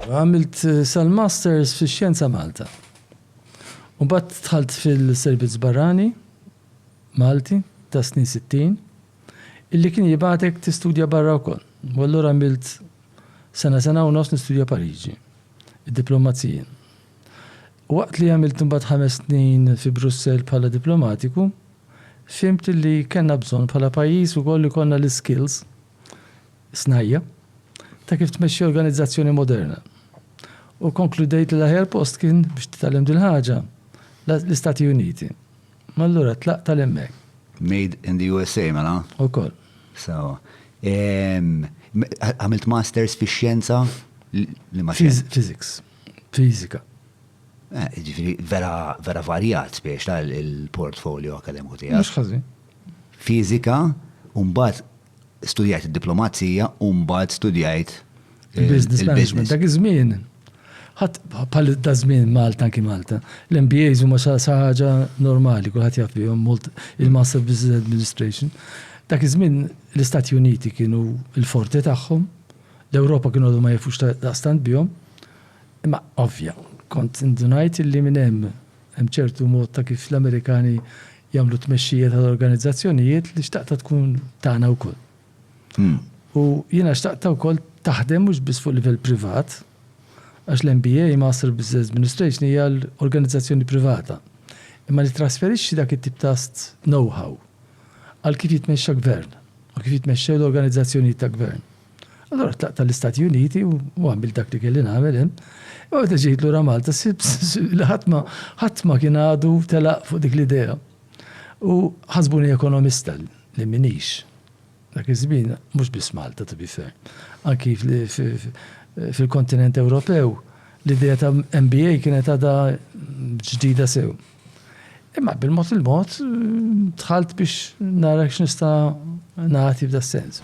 Għamilt sal-Masters fix-Xjenza Malta. U mbagħad dħalt fil-Servizz Barrani Malti tas-snin sittin, illi kien jibgħatek tistudja barra wkoll. U allura għamilt sena, sena u nofs nistudja Pariġi, id-diplomazija. Waqt li għamilt imbagħad ħames snin fi Brussell bħala diplomatiku, fhimt illi kellna bżonn bħala pajjiż ukoll ikollna l-iskills, Snajja', ta' kif tmexxi organizzazzjoni moderna, u kkonkludejt li l-aħjar post kien biex titgħallem dil-ħaġa l-Istati Uniti. Allura tlaqt għal hemmhekk. Made in the USA, mela? Ukoll. Sewwa. Għamilt Masters fix-xjenza? Liema xjenza? Physics. Fiżika. Jiġifieri vera varjat, spiegħ, il-portfolio akademiku tiegħek. Mhux ħażin. Fiżika u mbagħad studjajt id-diplomazija u mbagħad studjajt il-business management. Dak iż-żmien ħadd bħal da żmien Malta anki Malta. L-MBAs huma sa ħaġa normali, kulħadd jaf bihom mult il-Master Business Administration. Dak iż-żmien l-Istati Uniti kienu l-forti tagħhom, l-Ewropa kienu għadu ma jafux daqstant bihom. Imma ovvja, kont indunajt li minn hemm Hemm ċertu mod ta' kif l-Amerikani jagħmlu t-tmexxija tal-organizzazzjonijiet li xtaqtha tkun tagħna wkoll. U jiena xtaqtha wkoll taħdem mhux biss fuq livell privat, għax l-MBA, Master Business Administration, hija għal organizzazzjoni privata, imma li ttrasferixxi dak it-tip ta' know-how għal kif jitmexxa gvern u kif jitmexxew l-organizzazzjonijiet ta' gvern. Allora tlaqt tal-Istati Uniti u għamil dak li kelli nagħmel hemm. U meta ġejt lura Malta, li ħatma ħatma kien għadu telaq fuq dik l-idea. U ħasbuni ekonomista li minix. Dak iż-żmien mhux biss Malta to be fair. Anki fil-kontinent Ewropew l-idea ta' MBA kienet għadha ġdida sew. Imma bil-mod il-mod dħalt biex nara x'nista' nagħti f'da sens.